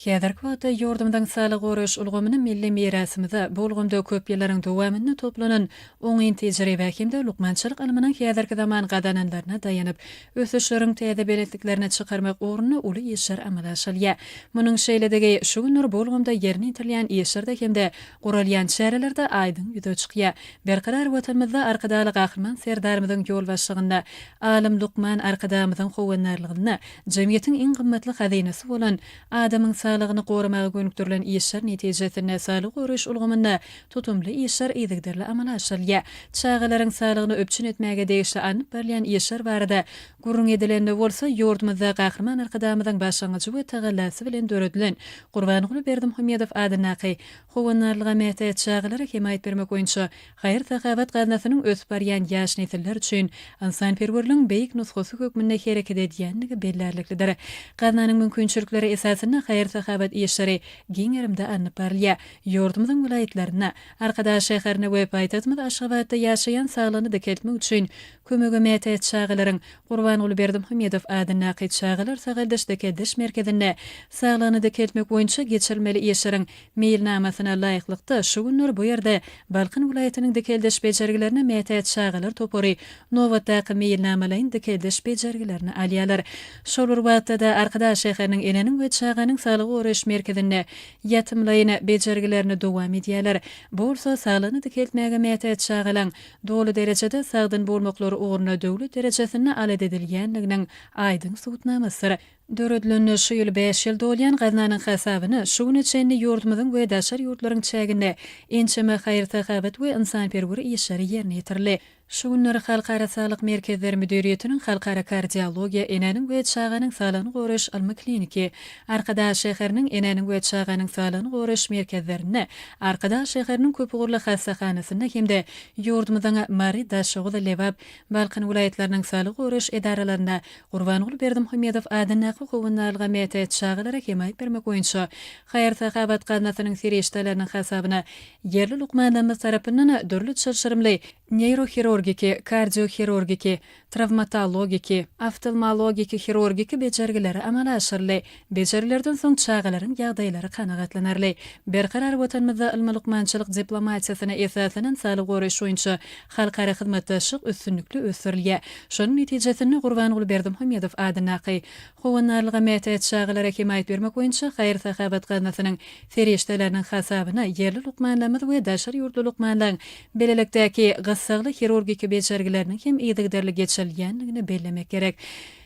Häzirki wagtda ýurdumyzyň saglygy goraýyş ulgamyny milli mirasymyza, bu ulgamda köp ýyllaryň dowamynda toplanan oňyn tejribä hem-de lukmançylyk ylmynyň häzirki zaman gazananlaryna daýanyp, ösüşleriň täze belentliklerine çykarmak ugrunda uly işler amala aşyrylýar. Munuň şeýledigi şu günler bu ulgamda ýerine ýetirilýän işlerde hem-de guralýan çärelerde aýdyň ýüze çykýar. Berkarar Watanymyzda Arkadagly Gahryman Serdarymyzyň ýolbaşçylygynda, alym, lukman Arkadagymyzyň howandarlygynda jemgyýetiň iň gymmatly hazynasy bolan Adamyň saglygyny goramaga gönükdirilen işler netijesinde saglygy goraýyş ulgamynda tutumly işler yzygiderli amala aşyrylýar. Çagalaryň saglygyny üpjün etmäge degişli alnyp barylýan işler barada gürrüň edilende bolsa, ýurdumyzda Gahryman Arkadagymyzyň başlangyjy we tagallasy bilen döredilen Gurbanguly Berdimuhamedow adyndaky Howandarlyga mätäç çagalara hemaýat bermek boýunça Haýyr-sahawat gaznasynyň ösüp barýan ýaş nesiller üçin ynsanperwerligiň beýik nusgasy hökmünde hereket edýändigi bellärliklidir. Gaznanyň mümkinçilikleri esasynda haýyr-sahawat işleri giň gerimde alnyp barylýar. Ýurdumyzyň welaýatlarynda, Arkadag şäherinde we paýtagtymyz Aşgabatda ýaşaýan saglygyny dikeltmek üçin Kömege mätäç çagalaryň Gurbanguly Berdimuhamedow adyndaky Çagalar sagaldyş-dikeldiş merkezinde saglygyny dikeltmek boýunça geçirilmeli işleriň meýilnamasyna laýyklykda, şu günler bu ýerde Balkan welaýatynyň dikeldiş bejergilerine mätäç çagalar topary nobatdaky meýilnamalaýyn dikeldiş bejergilerini alýarlar. Şol bir wagtda-da, Arkadag şäheriniň Enäniň we çaganyň saglygy goraýyş merkezinde ýatymlaýyn bejergilerini dowam edýärler. Bu bolsa saglygyny dikeltmäge mätäç çagalaň doly derejede sagdyn bolmaklary ugrunda döwlet derejesinde alat edilýändiginiň aýdyň subutnamasydyr. Döredilenine şu ýyl bäş ýyl dolýan gaznanyň hasabyna şu güne çenli ýurdumyzyň we daşary ýurtlaryň çäginde ençeme haýyr-sahawat we ynsanperwer işleri ýerine ýetirildi. Şu günler Halkara saglyk merkezleri müdiriýetiniň Halkara kardiologiýa, enäniň we çaganyň saglygyny goraýyş ylmy-kliniki, Arkadag şäheriniň Enäniň we çaganyň saglygyny goraýyş merkezlerinde, Arkadag şäheriniň köpugurly hassahanasynda hem-de ýurdumyzyň Mary, Daşoguz, Lebap, Balkan welaýatlarynyň saglygy goraýyş edaralarynda Gurbanguly Berdimuhamedow adyndaky Howandarlyga mätäç çagalara hemaýat bermek boýunça haýyr-sahawat gaznasynyň serişdeleriniň hasabyna ýerli lukmanlarymyz tarapyndan dürli çylşyrymly neýrohirurgiki, kardiohirurgiki, trawmatologiki, oftalmologiki-hirurgiki bejergileri amala aşyryldy. Bejergilerden soň çagalaryň ýagdaýlary kanagatlanarly. Berkarar Watanymyzda ylmy-lukmançylyk diplomatiýasyna esaslanan saglygy goraýyş boýunça halkara hyzmatdaşlyk üstünlikli ösdürilýär. Şonuň netijesinde Gurbanguly Berdimuhamedow adyndaky Howandarlyga mätäç çagalara hemaýat bermek boýunça haýyr-sahawat gaznasynyň serişdeleriniň hasabyna ýerli lukmanlarymyz we daşary ýurtly lukmanlaryň Beýlelikdäki gyssagly hirurgiki bejergileriniň hem yzygiderli geçirilýändigini bellemek gerek.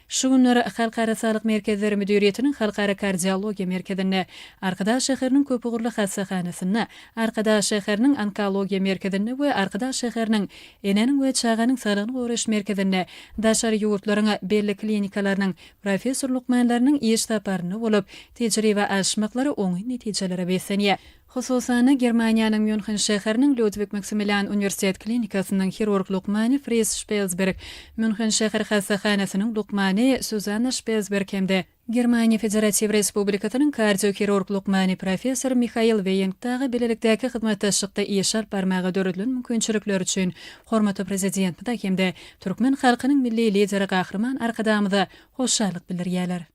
Şu günler Halkara saglyk merkezleri müdiriýetiniň Halkara kardiologiýa merkezinde, Arkadag şäheriniň köpugurly hassahanasynda, Arkadag şäheriniň onkologiýa merkezinde we Arkadag şäheriniň Enäniň we çaganyň saglygyny goraýyş merkezinde daşary ýurtlaryň belli klinikalarynyň professor-lukmanlarynyň iş saparynda bolup, tejribe alyşmaklary oňyn netijelere beslenýär. Hususan-da, Germaniýanyň Mýunhen şäheriniň Lýudwig Maksimilian uniwersitet klinikasynyň hirurg lukmany Fris Şpelsberg, Mýunhen şäher hassahanasynyň lukmany Suzanna Şpelsberg hem-de Germaniýa Federatiw Respublikasynyň kardiohirurg lukmany professor Mihail Weýing dagy bilelikdäki hyzmatdaşlykda iş alyp barmaga döredilen mümkinçilikler üçin hormatly Prezidentimize hem-de türkmen halkynyň Milli Lideri Gahryman Arkadagymyza hoşallyk bildirýärler.